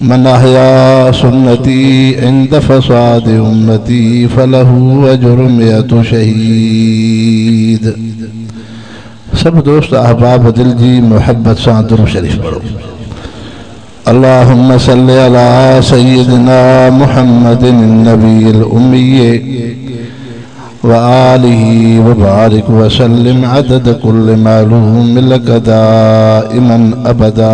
من احياء سنتي عند فساد امتي فله اجر مئت شهيد سڀ دوست احباب دل جي محبت سان درود شريف پڙهو اللهم صل على سيدنا محمد النبي الامي وآله وبارڪ وسلم عدد کل معلوم لک دائما ابدا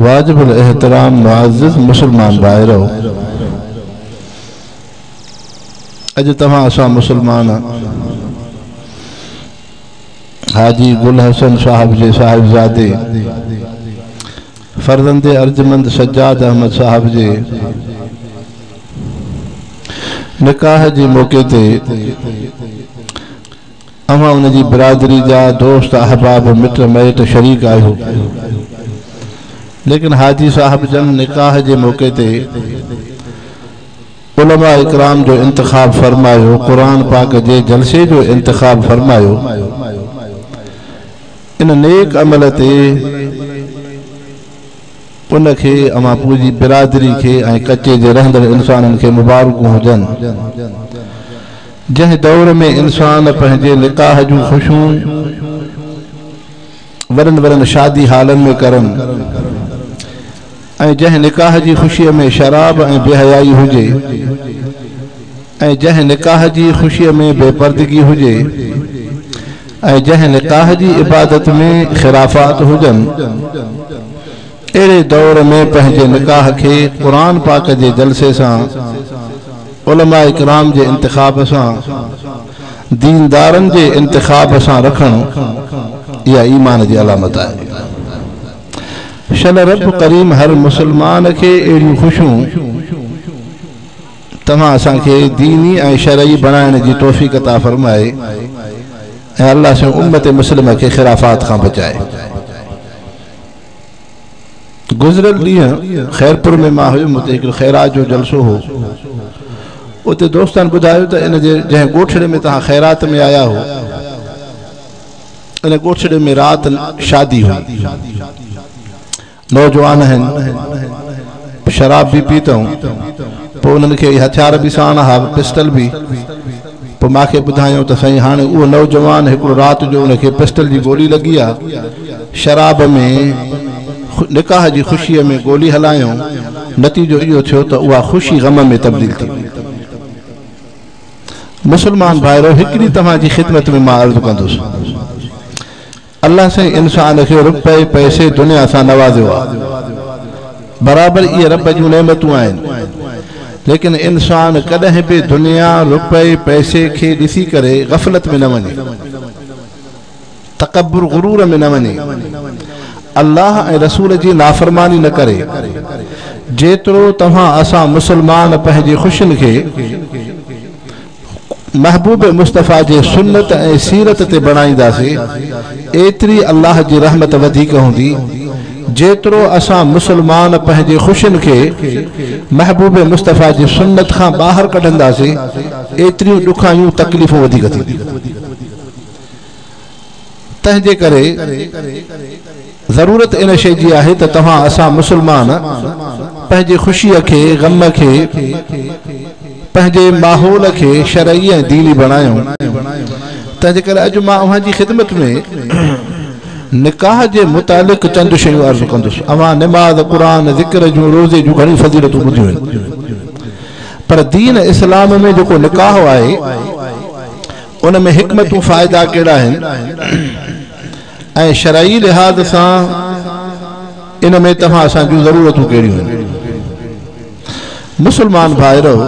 واجب الاحترام معزز مسلمان ڀائرو اڄ توهان اسان مسلمان حاجي گل حسن صاحب جي صاحبزادي فرزند ارجمند سجاد احمد صاحب جي نڪاح جي موقعي تي اوهان ان جي برادري جا دوست احباب مٽ مائٽ شريڪ آهيو ليڪن حاجي صاحب جن نڪاح جي موقعي تي علماء اڪرام جو انتخاب فرمايو قرآن پاڪ جي جلسي جو انتخاب فرمايو ان نيڪ عمل تي ان کي، اوهان پنهنجي برادري کي ۽ ڪچي جي رهندڙ انسانن کي مبارڪون هجن. جنهن دور ۾ انسان پنهنجي نڪاح جون خوشيون وڏن وڏن شادي هالن ۾ ڪرن. ۽ جنهن نڪاح جي خوشيء ۾ شراب ۽ بي حيائي هجي ۽ جنهن نڪاح جي خوشيء ۾ بي پردگي هجي ۽ جنهن نڪاح جي عبادت ۾ خرافات هجن اهڙي دور ۾ پنهنجي نڪاح کي قرآن پاڪ جي جلسي سان علماء ڪرام جي انتخاب سان ديندارن جي انتخاب سان رکڻ اها ايمان جي علامت آهي شل رب ڪريم هر مسلمان کي اهڙيون خوشيون توهان اسان کي ديني ۽ شرعي بڻائڻ جي توفيق عطا فرمائي ۽ الله سائين امت مسلمه کي خرافات کان بچائي گذريل ڏينهن خيرپور ۾ مان هيم اتي هڪڙو خيرات جو جلسو هو اتي دوستن ٻڌايو ته ان جي جنهن ڳوٺڙي ۾ توهان خيرات ۾ آيا هو ان ڳوٺڙي ۾ رات شادي هئي. نوجوان هن شراب به پي تئون. پوء انهن کي اهي هٿيار به ساڻ ها، پسٽل به. پوء مان کي ٻڌايائون ته سائين هاڻي اهو نوجوان هڪڙو رات جو ان کي پسٽل جي گولي لڳي آ. شراب ۾ نڪاح جي خوشيء ۾ گولي هلايائون. نتيجو اهو ٿيو ته اها خوشي غم ۾ تبديل ٿي وئي. مسلمان ڀائرو! هڪڙي توهان جي خدمت ۾ مان عرض ڪندس. الله سائين انسان کي رپئي پئسي دنيا سان نوازيو آ. برابر اهي رب جون نعمتون آهن. ليڪن انسان ڪڏهن به دنيا، رپئي پئسي کي ڏسي ڪري غفلت ۾ نه وڃي. تڪبر غرور ۾ نه وڃي الله ۽ رسول جي نافرماني نه ڪري جيترو توهان اسان مسلمان پنهنجي خوشين کي محبوب مصطفيٰ جي سنت ۽ سيرت تي بڻائينداسي ايتري الله جي رحمت وڌيڪ هوندي جيترو اسان مسلمان پنهنجي خوشين کي محبوب مصطفيٰ جي سنت کان ٻاهر ڪڍنداسي ايتريون ڏکايون تڪليفون وڌيڪ ٿينديون تنهنجي ڪري ضرورت ان شيء جي آهي ته توهان اسان مسلمان پنهنجي خوشيء کي، غم کي، پنهنجي ماحول کي شرعي ۽ ديني بڻايون. تنهنجي ڪري اڄ مان اوهان جي خدمت ۾ نڪاح جي متعلق چند شيون عرض ڪندس. اوهان نماز، قرآن، ذڪر جون، روزي جون گهڻيون فضيلتون ٻڌيون آهن. پر دين اسلام ۾ جيڪو نڪاح آهي، ان ۾ حڪمتون فائدا ڪهڙا آهن ۽ شرعي لحاظ سان ان ۾ توهان اسان جون ضرورتون ڪهڙيون آهن؟ مسلمان ڀائرؤ!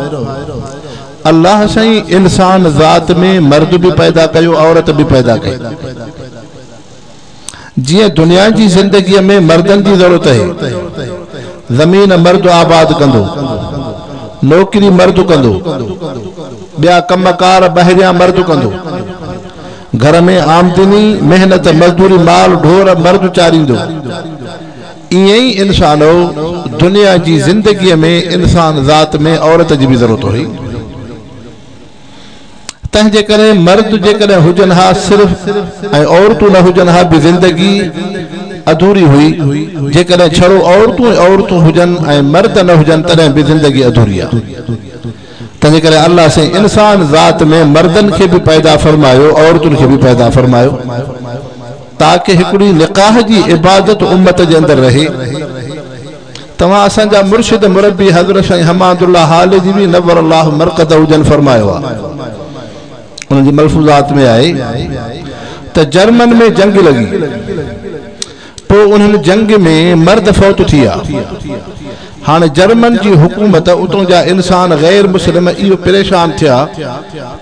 الله سائين انسان ذات ۾ مرد به پيدا ڪيو عورت به پيدا ڪئي. جيئن دنيا جي زندگيء ۾ مردن جي ضرورت اهي. زمين مرد آباد ڪندو. نوڪري مرد ڪندو. ٻيا ڪم ڪار ٻاهريان مرد ڪندو. گهر ۾ آمدني، محنت، مزدوري، مال ڍور مرد چاريندو. ائين ئي انسانو! دنيا جي زندگيء ۾ انسان ذات ۾ عورت جي به ضرورت هئي. تنهن جي ڪري مرد جيڪڏهن هجن ها صرف ۽ عورتون نه هجن ها به زندگي اڌوري هئي، جيڪڏهن ڇڙو عورتون ئي عورتون هجن ۽ مرد نه هجن تڏهن به زندگي اڌوري آ. تنهن جي ڪري الله سائين انسان ذات ۾ مردن کي به پيدا فرمايو عورتن کي به پيدا فرمايو تاڪه هڪڙي نڪاح جي عبادت امت جي اندر رهي. توهان اسان جا مرشد مربي حضرت سائين حماد الله هاليجوي نور الله مرقده جن فرمايو آهي انهن جي ملفوظات ۾ آهي ته جرمن ۾ جنگ لڳي پوء انهن جنگ ۾ مرد فوت ٿيا هاڻي جرمن جي حڪومت اتون جا انسان غير مسلم اهو پريشان ٿيا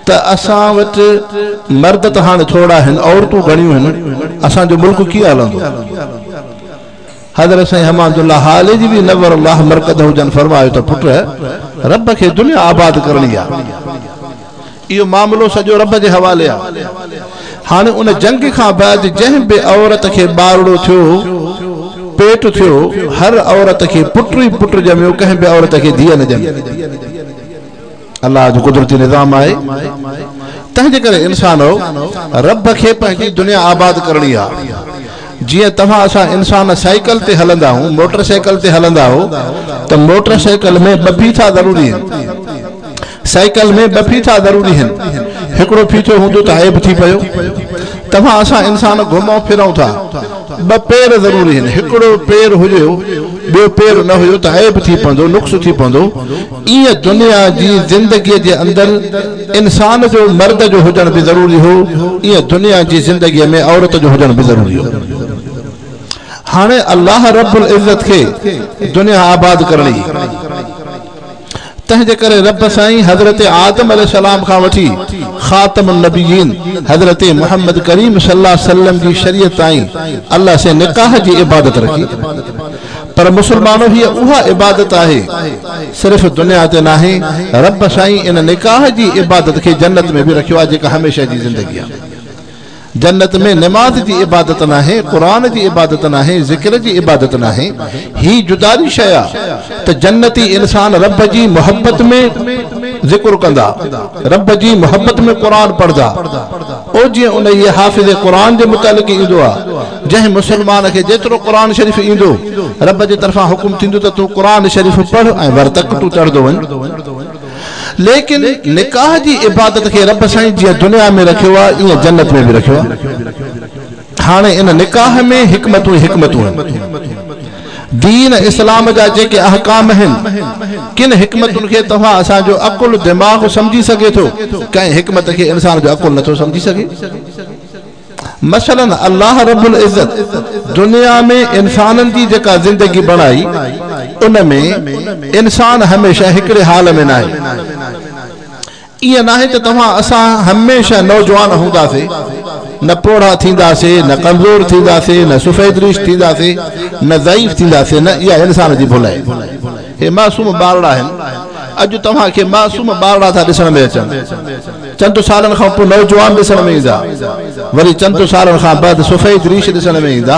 ته اسان وٽ مرد ته هاڻي ٿورا آهن عورتون گهڻيون آهن اسان جو ملڪ ڪيئن هلندو حضرت سائين امان الله هالجي به نور الله مرقده جن فرمايو ته پٽ رب کي دنيا آباد ڪرڻي آ اهو معاملو سڄو رب جي حوالي آ هاڻي ان جنگ کان بعد جنهن به عورت کي ٻارڙو ٿيو پيٽ ٿيو هر عورت کي پٽ ئي پٽ ڄميو ڪنهن به عورت کي ڌيء نه ڄمي الله جو قدرتي نظام آهي تنهن جي ڪري انسانؤ رب کي پنهنجي دنيا آباد ڪرڻي آ جيئن توهان اسان انسان سائيڪل تي هلندا هون موٽر سائيڪل تي هلندا هو ته موٽر سائيڪل ۾ ٻه ڦيٿا ضروري هن سائيڪل ۾ ٻه ڦيٿا ضروري هن هڪڙو ڦيٿو هوندو ته عيب ٿي پيو توهان اسان انسان گهمون ڦرون ٿا ٻه پير ضروري هن هڪڙو پير هجيو ٻيو پير نه هيو ته عيب ٿي پوندو نقص ٿي پوندو ايئن دنيا جي زندگيء جي اندر انسان جو مرد جو هجڻ به ضروري هو، ايئن دنيا جي زندگيء ۾ عورت جو هجڻ به ضروري هو. هاڻي الله رب العزت کي دنيا آباد ڪرڻي هئي، تنهن جي ڪري رب سائين حضرت آدم عليه السلام کان وٺي خاتم النبيين حضرت محمد ڪريم صلي الله عليه وسلم جي شريعت تائين الله سين نڪاح جي عبادت رکي. پر مسلمانو هيء اها عبادت آهي صرف دنيا تي ناهي رب سائين ان نڪاح جي عبادت کي جنت ۾ به رکيو آهي جيڪا هميشه جي زندگي آهي جنت ۾ نماز جي عبادت ناهي قرآن جي عبادت ناهي ذڪر جي عبادت ناهي هي جداري شيء آهي ته جنتي انسان رب جي محبت ۾ ذڪر ڪندا رب جي محبت ۾ قرآن پڙهدا او جيئن انهيء حافظ قرآن جي متعلق ئي ايندو آهي، جنهن مسلمان کي جيترو قرآن شريف ايندو، رب جي طرفان حڪم ٿيندو ته تون قرآن شريف پڙهه ۽ ورتڪ تون چڙهندو وڃ. ليڪن نڪاح جي عبادت کي رب سائين جيئن دنيا ۾ رکيو آهي، ايئن جنت ۾ به رکيو آهي. هاڻي ان نڪاح ۾ حڪمتون ئي حڪمتون آهن. دين اسلام جا جيڪي احڪام آهن، ڪن حڪمتن کي توهان اسان جو عقل دماغ سمجهي سگهي ٿو، ڪنهن حڪمت کي انسان جو عقل نٿو سمجهي سگهي. مثلاً الله رب العزت دنيا ۾ انسانن جي جيڪا زندگي بڻائي، ان ۾ انسان هميشه هڪڙي حال ۾ ناهي. ائين ناهي ته توهان اسان هميشه نوجوان هونداسي، نه پوڙها ٿينداسي، نه ڪمزور ٿينداسي، نه سفيد ريش ٿينداسي، نه ضعيف ٿينداسي، نه اها انسان جي ڀل آهي. هي معصوم ٻارڙا آهن. اڄ توهان کي معصوم ٻارڙا ٿا ڏسڻ ۾ اچن. چند سالن کان پوء نوجوان ڏسڻ ۾ ايندا. وري چند سالن کان بعد سفيد ريش ڏسڻ ۾ ايندا.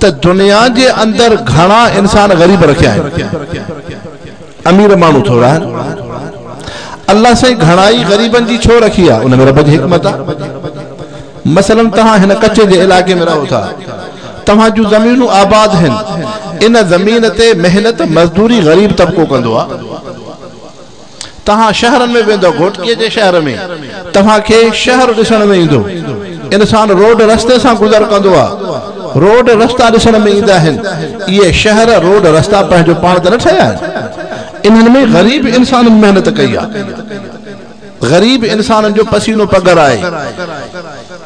ته دنيا جي اندر گهڻا انسان غريب رکيا آهن، امير ماڻهو ٿورا آهن. الله سائين گهڻائي غريبن جي ڇو رکي آهي، ان ۾ رب جي حڪمت آهي. مثلا توهان هن ڪڇ جي علائقي ۾ رهو ٿا، توهان جون زمينون آباد هن، ان زمين تي محنت مزدوري غريب طبقو ڪندو آهي. توهان شهرن ۾ ويندؤ، گهوٽڪيء جي شهر ۾، توهان کي شهر ڏسڻ ۾ ايندو. انسان روڊ رستي سان گذر ڪندو آ. روڊ رستا ڏسڻ ۾ ايندا آهن. اهي شهر، روڊ رستا پنهنجو پاڻ ته نه ٺهيا آهن. انهن ۾ غريب انسانن محنت ڪئي آ. غريب انسانن جو پسينو پگهر آهي.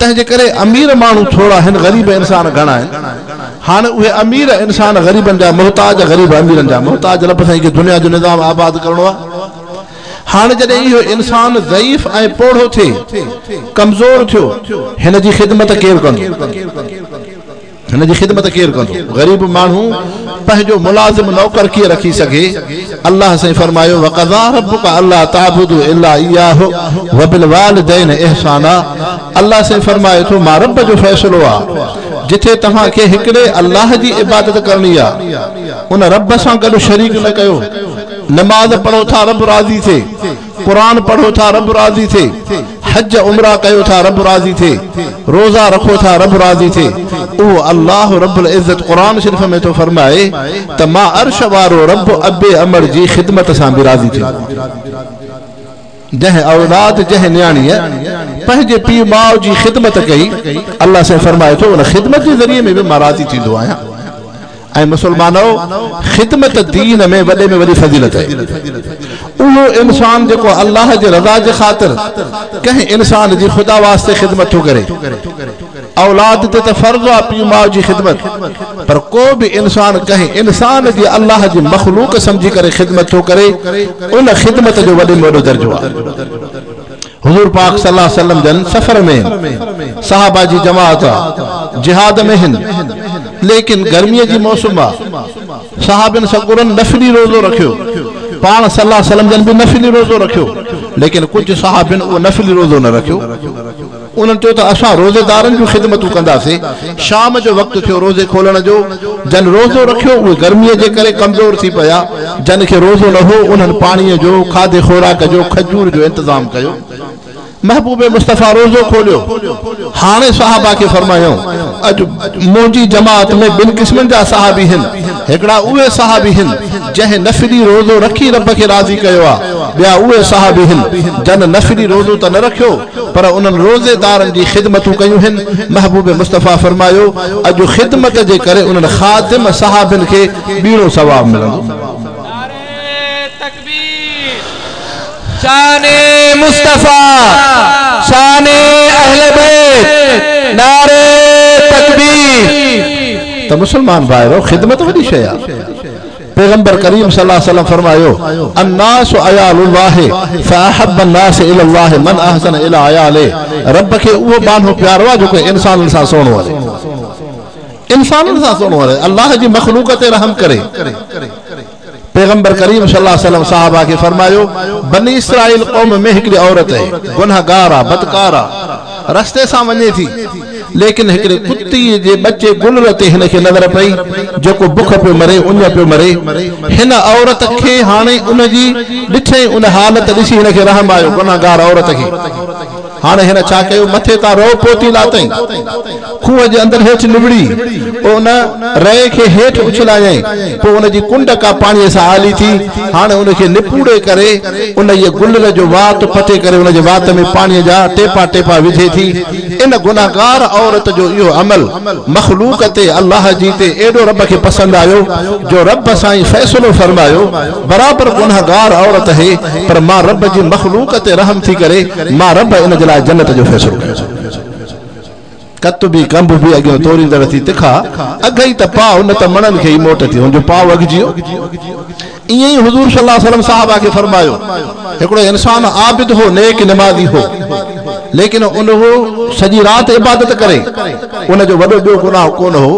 تنهن جي ڪري امير ماڻهو ٿورا هن غريب انسان گهڻا آهن هاڻي اهي امير انسان غريبن جا محتاج غريب اميرن جا محتاج رب سائين کي دنيا جو نظام آباد ڪرڻو آهي هاڻي جڏهن اهو انسان ضعيف ۽ پوڙهو ٿي ڪمزور ٿيو هن جي خدمت ڪير ڪندو هن جي خدمت ڪير ڪندو؟ غريب ماڻهو پنهنجو ملازم نوڪر ڪيئن رکي سگهي؟ الله سائين فرمايو، وقضٰي ربڪ الا تعبدوا الا اياه وبالوالدين احسانا الله سائين فرمائي ٿو مان رب جو فيصلو آ جتي توهان کي هڪڙي الله جي عبادت ڪرڻي آ ان رب سان گڏ شريڪ نه ڪيو نماز پڙهو ٿا رب راضي ٿئي. قرآن پڙهو ٿا رب راضي ٿئي، حج عمره ڪيو ٿا رب راضي ٿئي، روزا رکو ٿا رب راضي ٿئي، اهو الله رب العزت قرآن شريف ۾ ٿو فرمائي ته مان عرش وارو رب ابي امڙ جي خدمت سان به راضي ٿيندو آهيان. جنهن اولاد، جنهن نياڻيء پنهنجي پيء ماء جي خدمت ڪئي، الله سائين فرمائي ٿو ان خدمت جي ذريعي ۾ به مان راضي ٿيندو آهيان. اي مسلمانؤ! خدمت دين ۾ وڏي ۾ وڏي فضيلت آهي. اهو انسان جيڪو الله جي رضا جي خاطر ڪنهن انسان جي خدا واسطي خدمت ٿو ڪري. اولاد تي ته فرض آهي پيء ماء جي خدمت پر ڪو به انسان ڪنهن انسان جي الله جي مخلوق سمجهي ڪري خدمت ٿو ڪري ان خدمت جو وڏي ۾ وڏو درجو آهي. حضور پاڪ صلي الله عليه وسلم جن سفر ۾ صحابه جي جماعت جهاد ۾ هن ليڪن گرمي جي موسم آ صحابين سڳورن نفلي روزو رکيو پاڻ صلي الله عليه وسلم جن به نفلي روزو رکيو ليڪن ڪجهه صحابين اهو نفلي روزو نه رکيو انهن چيو ته اسان روزيدارن جون خدمتون ڪنداسين شام جو وقت ٿيو روزي کولڻ جو، جن روزو رکيو اهي گرميء جي ڪري ڪمزور ٿي پيا، جن کي روزو نه هو انهن پاڻيء جو، کاڌي خوراڪ جو، کجور جو انتظام ڪيو. محبوب مصطفيٰ روزو کوليو. هاڻي صحابه کي فرمايائون، اڄ منهنجي جماعت ۾ ٻن قسمن جا صحابي هن، هڪڙا اهي صحابي هن، جنهن نفلي روزو رکي رب کي راضي ڪيو آهي، ٻيا اهي صحابي هن، جن نفلي روزو ته نه رکيو، پر انهن روزيدارن جي خدمتون ڪيون هن، محبوب مصطفيٰ فرمايو، اڄ خدمت جي ڪري انهن خادم صحابين کي ٻيڻو ثواب ملندو. نعري تڪبير، شان مصطفيٰ، شان اهل بيت، نعري تڪبير. ته مسلمان ڀائرو! خدمت وڏي شيء آهي. پيغمبر ڪريم صلي الله عليه وسلم فرمايو، الناس عيال الله فاحب الناس الي الله من احسن الي عياله رب کي اهو ٻانهو پيارو آهي جيڪو انسانن سان سهڻو رهي. انسانن سان سهڻو رهي. الله جي مخلوق تي رحم ڪري. پيغمبر ڪريم صلي الله عليه وسلم صحابه کي فرمايو، بني اسرائيل قوم ۾ هڪڙي عورت هئي، گنهگار آ، بدڪار آ. رستي سان وڃي ٿي، ليڪن هڪڙي ڪتي جي ٻچي گلر تي هن کي نظر پئي، جيڪو بک پيو مري، اڃ پيو مري. هن عورت کي هاڻي ان جي ڏٺئي ان حالت ڏسي هن کي رحم آيو، گنهگار عورت کي. هاڻي هن ڇا ڪيو، مٿي تان رئو پوتي لاتئين. کوهه جي اندر هيٺ نوڙي، پوء ان رئي کي هيٺ اڇلايائين، پوء ان جي ڪنڊ ڪا پاڻيء سان آلي ٿي، هاڻي ان کي نپوڙي ڪري، انهيء گلر جو وات پٽي ڪري ان جي وات ۾ پاڻيء جا ٽيپا ٽيپا وجهي ٿي. ان گنهگار عورت جو اهو عمل مخلوق تي الله جي تي ايڏو رب کي پسند آيو، جو رب سائين فيصلو فرمايو، برابر گنهگار عورت هي، پر مان رب جي مخلوق تي رحم ٿي ڪري، مان رب ان جي لاء جنت جو فيصلو ڪيو. ڪتبي ڪنڀ به اڳيون توريندڙ ٿي تکا اگهه ئي ته پاء نه ته مڻن کي ئي موٽ ٿي هن جو پاء اگهجي ويو. ائين ئي حضور صلي الله عليه وسلم صحابه کي فرمايو، هڪڙو انسان عابد هو نيڪ نمازي هو ليڪن ان هو سڄي رات عبادت ڪري ان جو وڏو ٻيو گناهه ڪونه هو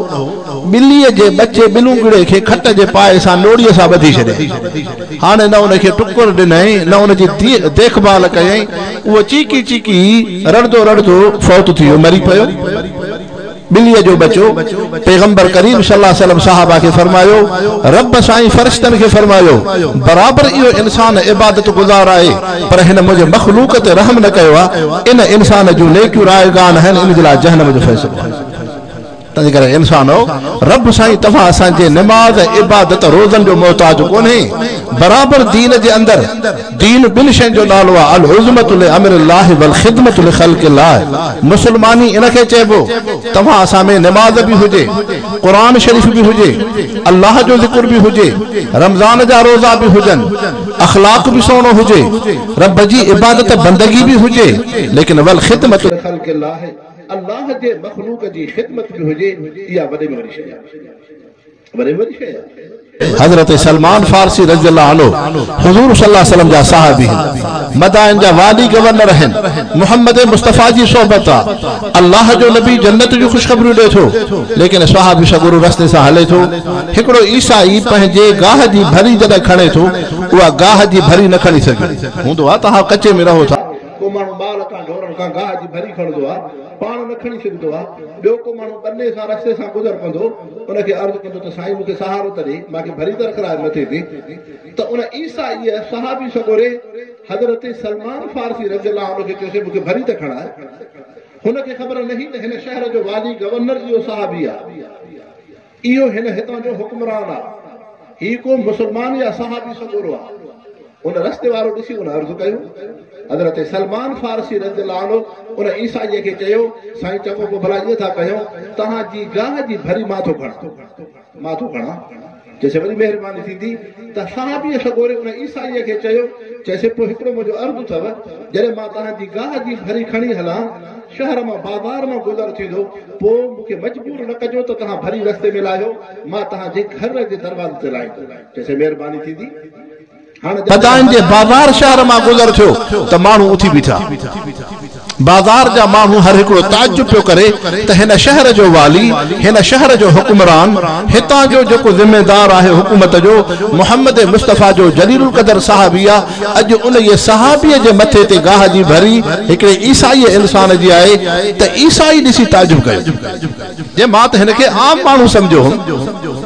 ٻليء جي ٻچي ٻلونگڙي کي کٽ جي پاء سان نوڙيء سان ٻڌي ڇڏيائين هاڻي نه ان کي ٽڪر ڏنائين نه ان جي ديک ڀال ڪيائين اهو چيڪي چيڪي رڙندو رڙندو فوت ٿي ويو، مري پيو. ٻليء جو ٻچو، پيغمبر ڪريم صلي الله عليه وسلم صحابه کي فرمايو، رب سائين فرشتن کي فرمايو، برابر اهو انسان عبادت گذار آهي، پر هن منهنجي مخلوق تي رحم نه ڪيو آهي، ان انسان جون نيڪيون رائيگان آهن، ان جي لاء جهنم جو فيصلو آهي. تنهنجي ڪري انسانو! رب سائين توهان اسان جي نماز، عبادت، روزن جو محتاج ڪونهي. برابر دين جي اندر دين ٻن شين جو نالو آهي، العظمت لامر الله والخدمت لخلق الله. مسلماني ان کي چئبو. توهان اسان ۾ نماز به هجي، قرآن شريف به هجي، الله جو ذڪر به هجي، رمضان جا روزا به هجن، اخلاق به سهڻو هجي، رب جي عبادت بندگي به هجي، ليڪن والخدمت لخلق الله. الله جي مخلوق جي خدمت ۾ هجي اها وڏي ۾ وڏي شيء آهي وڏي ۾ وڏي شيء آهي. حضرت سلمان فارسي رضي الله عنه حضور صلي الله عليه وسلم جا صاحب هين مدائن جا والي گورنر هين محمد مصطفي جي صحبت آ الله جو نبي جنت جون خوشخبريون ڏي ٿو ليڪن صحابي سڳورو رستي سان هلي ٿو هڪڙو عيسائي پنهنجي گاهه جي ڀري جڏهن کڻي ٿو اها گاهه جي ڀري نه کڻي سگهي هوندو آ توهان ڪچي ۾ رهو ٿا ڪو ماڻهو مال کان ڍورن کان گاهه جي ڀري کڻندو آهي پاڻ نه کڻي سگهندو آهي ٻيو ڪو ماڻهو ٻني سان رستي سان گذر ڪندو ان کي عرض ڪندو ته سائين مون کي سهارو ته ڏي مان کي ڀري درخرار نه ٿي ٿي ته ان عيسائي صحابي سڳوري حضرت سلمان فارسي رضي الله عنه کي چيوسي مون کي ڀري ته کڻاء هن کي خبر نه هئي ته هن شهر جو والي گورنر اهو صحابي آهي اهو هن هتان جو حڪمران آ. هي ڪو مسلمان يا صحابي سڳورو آ. ان رستي وارو ڏسي ان عرض ڪيو. حضرت سلمان فارسي رضي الله عنه ان عيسائيء کي چيو، سائين چڱو پوء ڀلا ائين ٿا ڪيون، توهان جي گاهه جي ڀري مان ٿو کڻان. مان ٿو کڻان. چيسين وڏي مهرباني ٿيندي ته صحابيء سڳوري ان عيسائيء کي چيو، چيسين پوء هڪڙو منهنجو عرض اٿو، جڏهن مان توهان جي گاهه جي ڀري کڻي هلان، شهر مان بازار مان گذر ٿيندو، پوء مون کي مجبور نه ڪجو ته توهان ڀري رستي ۾ لاهيو، مان توهان جي گهر جي دروازي تي لاهيندو. چيسين مهرباني ٿيندي. هاڻ جڏهن هن. ادائن جي بازار شهر مان گذر ٿيو ته ماڻهو اٿي بيٺا. بازار جا ماڻهو هر هڪڙو تعجب پيو ڪري ته هن شهر جو والي، هن شهر جو حڪمران، هتان جو جيڪو ذميدار آهي حڪومت جو، محمد مصطفيٰ جو جليل القدر صاحب ئي آ، اڄ انهيء صحابيء جي مٿي تي گاهه جي ڀري هڪڙي عيسائيء انسان جي آهي ته عيسائي ڏسي تعجب ڪيو جي مان ته هن کي عام ماڻهو سمجهيو هوم.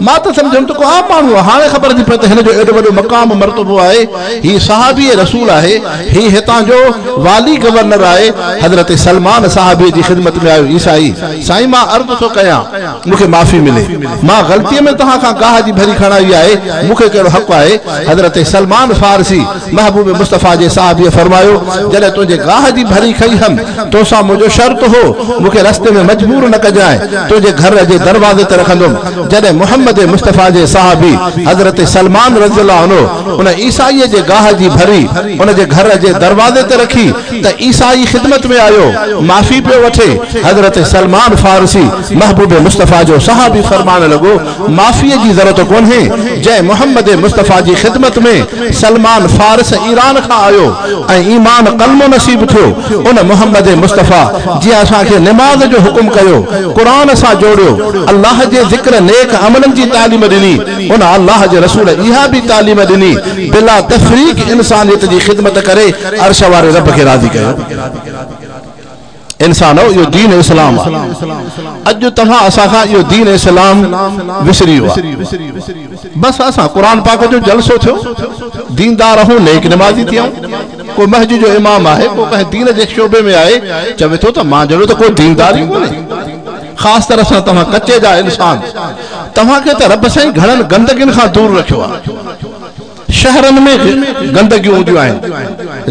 مان ته سمجهيو هوم ته ڪو عام ماڻهو آهي، هاڻي خبر ٿي پئي ته هن جو ايڏو وڏو مقام مرتبو آهي، هي صحابي رسول آهي، هي هتان جو والي گورنر آهي. حضرت سلمان صحابيء جي خدمت ۾ آيو عيسائي، سائين مان عرض ٿو ڪيان! مون کي معافي ملي، مان غلطيء ۾ توهان کان گاهه جي ڀري کڻائي آهي، مون کي ڪهڙو حق آهي؟ حضرت سلمان فارسي، محبوب مصطفيٰ جي صحابيء فرمايو، جڏهن تنهنجي گاهه جي ڀري کئي هيم، تو سان منهنجو شرط هو، مون کي رستي ۾ مجبور نه ڪجانء، تنهنجي گهر جي دروازي تي رکندم. جڏهن محمد مصطفيٰ جي صحابي حضرت سلمان رضي الله عنه ان عيسائيء جي گاهه جي ڀري ان جي گهر جي دروازي تي رکي، ته عيسيٰ جي خدمت ۾ آيو، معافي پيو وٺي. حضرت سلمان فارسي، محبوب مصطفيٰ جو صحابي فرمان لڳو، معافيء جي ضرورت ڪونهي، جنهن محمد مصطفيٰ جي خدمت ۾ سلمان فارس ايران کان آيو ۽ ايمان ڪلمو نصيب ٿيو، ان محمد مصطفيٰ جنهن اسان کي نماز جو حڪم ڪيو، قرآن سان جوڙيو، الله جي ذڪر نيڪ عملن جي تعليم ڏني، ان الله جي رسول اها به تعليم ڏني، بلا تفريق انسانيت جي خدمت ڪري، عرش واري رب کي راضي ڪيو. انسانؤ اهو دين اسلام آ. اڄ توهان اسان کان اهو دين اسلام وسري ويو آ. بس اسان قرآن پاڪ جو جلسو ٿيو، ديندار اهون نيڪ نمازي ٿيا آهون. ڪو مسجد جو امام آهي، ڪو ڪنهن دين جي شعبي ۾ آهي، چوي ٿو ته مان جهڙو ته ڪو ديندار ئي ڪونهي. خاص طرح سان توهان ڪچي جا انسان، توهان کي ته رب سائين گهڻن گندگين کان دور رکيو آ. شهرن ۾ گندگيون هونديون آهن،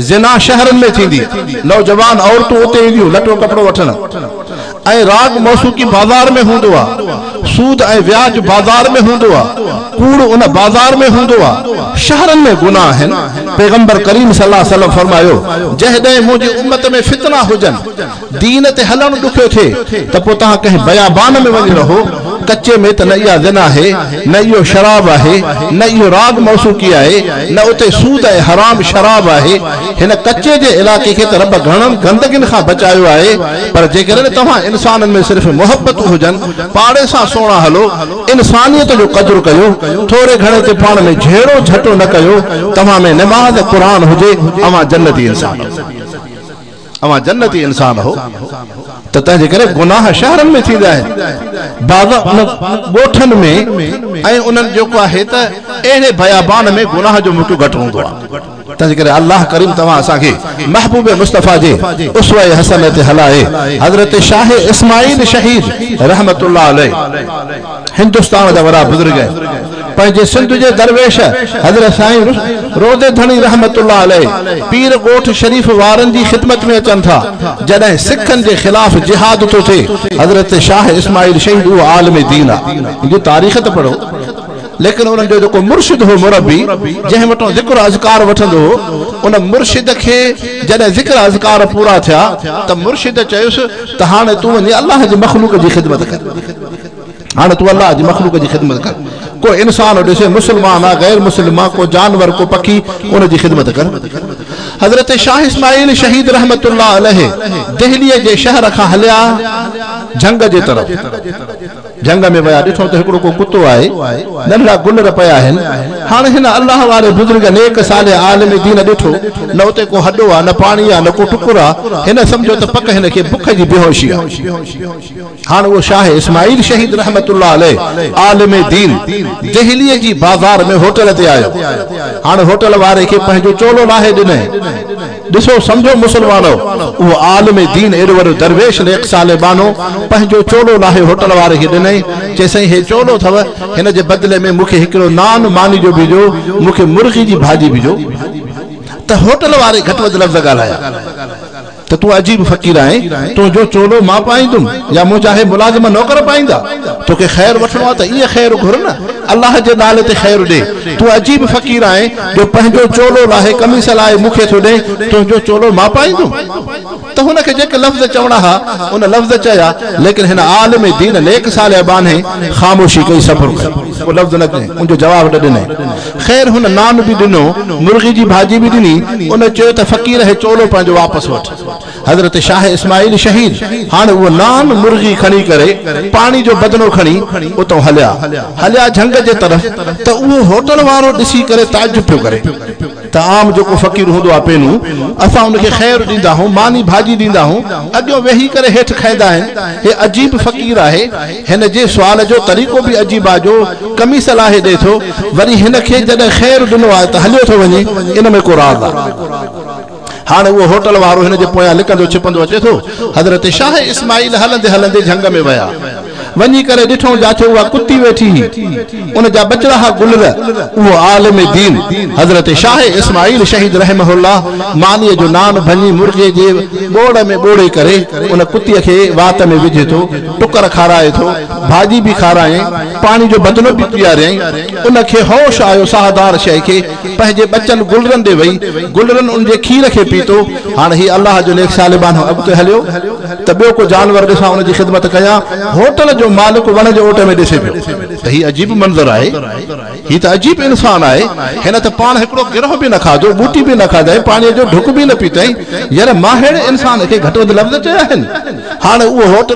زنا شهرن ۾ ٿيندي، نوجوان عورتون اتي اينديون لٽو ڪپڙو وٺڻ ۽ راڳ موسوقي بازار ۾ هوندو آ، سود ۽ وياج بازار ۾ هوندو آ، ڪوڙ ان بازار ۾ هوندو آ، شهرن ۾ گناهه آهن، پيغمبر ڪريم صلي الله عليه وسلم فرمايو، جهڏهن منهنجي امت ۾ فتنا هجن. دين تي هلڻ ڏکيو ٿئي ته پوء توهان ڪنهن بيابان ۾ وڃي رهو، ڪچي ۾ ته نه اها زنا آهي، نه اهو شراب آهي، نه اهو راڳ موسوقي آهي، نه اتي سود ۽ حرام شراب آهي. هن ڪچي جي علائقي کي ته رب گهڻن گندگين کان بچايو آهي، پر جيڪڏهن توهان انسانن ۾ صرف محبتون هجن، پاڙي سان سهڻا هلو، انسانيت جو قدر ڪيو، ٿوري گهڻي تي پاڻ ۾ جهيڙو جهٽو نه ڪيو، توهان ۾ نماز قرآن هجي، اوهان جنتي انسان آهيو. اوهان جنتي انسان هو ته تنهنجي ڪري گناهه شهرن ۾ ٿيندي آهي بعض ڳوٺن ۾ ۽ انهن جيڪو آهي ته اهڙي بيابان ۾ گناهه جو موقعو گهٽ هوندو آهي تنهنجي ڪري الله ڪريم توهان اسان کي محبوب مصطفي جي اسوه حسنه تي هلائي حضرت شاهه اسماعيل شهيد رحمت الله عليه هندستان جا وڏا بزرگ پنهنجي سنڌ جي درويش حضرت سائين روضي ڌڻي رحمت الله عليه پير ڳوٺ شريف وارن جي خدمت ۾ اچن ٿا جڏهن سکن جي خلاف جهاد ٿو ٿئي حضرت شاهه اسماعيل شهيد اهو عالم دين آ ان جي تاريخ ته پڙهو ليڪن انهن جو جيڪو مرشد هو مربي جنهن وٽان ذڪر اذڪار وٺندو هو ان مرشد کي جڏهن ذڪر اذڪار پورا ٿيا ته مرشد چيس ته هاڻي تون وڃي الله جي مخلوق جي خدمت ڪر هاڻي تون الله جي مخلوق جي خدمت ڪر. ڪو انسان ڏسين، مسلمان آ، غير مسلم آ، ڪو جانور، ڪو پکي، ان جي خدمت ڪر. حضرت شاهه اسماعيل شهيد رحمة الله عليه دهليء جي شهر کان هليا جهنگ جي طرف. جهنگ ۾ ويا، ڏٺو ته هڪڙو ڪو ڪتو آهي، ننڍڙا گلر پيا آهن. هاڻي هن الله واري بزرگ، نيڪ، صالح، عالم دين ڏٺو، نه اتي ڪو هڏو آ، نه پاڻي آ، نه ڪو ٽڪر آ. هن سمجهيو ته پڪ هن کي بک جي بيهوشي آ. هاڻ اهو شاهه اسماعيل شهيد رحمت الله عليه عالم دين دهليء جي بازار ۾ هوٽل تي آيو. هاڻ هوٽل واري کي پنهنجو چولو لاهي ڏنائين. ڏسو سمجهو مسلمانؤ، اهو عالم دين ايڏو وڏو درويش ليڪ صالح ٻانهو پنهنجو چولو لاهي هوٽل واري کي ڏنائين، چي سائين هي چولو اٿو، هن جي بدلي ۾ مون کي هڪڙو نان ماني جو به ڏيو، مون کي مرغي جي ڀاڄي به ڏيو. ته هوٽل واري گهٽ وڌ لفظ ڳالهايا. ته تون عجيب فقير آهين، تنهنجو چولو مان پائيندم يا منهنجا هي ملازم نوڪر پائيندا؟ توکي خير وٺڻو آهي ته ايئن خير گهر نه، الله جي نالي تي خير ڏي. تون عجيب فقير آهين، جو پنهنجو چولو لاهي قميص لاهي مون کي ٿو ڏئين، تنهنجو چولو مان پائيندم؟ ته هن کي جيڪي لفظ چوڻا ها، ان لفظ چيا، ليڪن هن عالم دين نيڪ صالح ٻانهي خاموشي ڪئي، صبر ڪيو. ڪو لفظ نه چيائين، ان جو جواب نه ڏنائين. خير هن نان به ڏنو، مرغي جي ڀاڄي به ڏني، ان چيو ته فقير هي چولو پنهنجو واپس وٺ. حضرت شاهه اسماعيل شهيد هاڻ اهو نان، مرغي کڻي ڪري پاڻي جو بدنو کڻي اتئون هليا. هليا جهنگ جي طرف ته اهو هوٽل وارو ڏسي ڪري تعجب پيو ڪري ته عام جيڪو فقير هوندو آهي پينون اسان ان کي خير ڏيندا آهون، ماني ڀاڄي ڏيندا آهون، اڳيون ويهي ڪري هيٺ کائيندا آهن، هي عجيب فقير آهي. هن جي سوال جو طريقو به عجيب آهي جو قميص لاهي ڏئي ٿو وري هن کي جڏهن خير ڏنو آهي ته هليو ٿو وڃي ان ۾ ڪو راز آهي هاڻي اهو هوٽل وارو هن جي پويان لڪندو ڇپندو اچي ٿو حضرت شاهه اسماعيل هلندي هلندي جهنگ ۾ ويا وڃي ڪري ڏٺائون جاچو اها ڪتي ويٺي هئي ان جا ٻچڙا ها گلر اهو عالم دين حضرت شاهه اسماعيل شهيد رحمه الله مانيء جو نان ڀڃي مرغي جي ٻوڙ ۾ ٻوڙي ڪري ان ڪتي کي وات ۾ وجهي ٿو ٽڪر کارائي ٿو، ڀاڄي به کارايائين، پاڻي جو بدنو به پياريائين. ان کي هوش آيو، ساهدار شيء کي پنهنجي ٻچن گلرن ڏي وئي. گلرن ان جي کير کي پيتو. هاڻ هي الله جو نيڪ صالبانو اڳتي هليو ته ٻيو ڪو جانور ڏسان ان جي خدمت ڪيان. هوٽل جو مالڪ وڻ جي اوٽ ۾ ڏسي پيو ته هي عجيب منظر آهي. هي ته عجيب انسان آهي. هن ته پاڻ هڪڙو گرهه به نه کاڌو، ٻوٽي به نه کاڌائين، پاڻيء جو ڍڪ به نه پيتائين. ير مان ههڙي انسان کي گهٽ وڌ لفظ چيا آهن. هاڻ اهو هوٽل.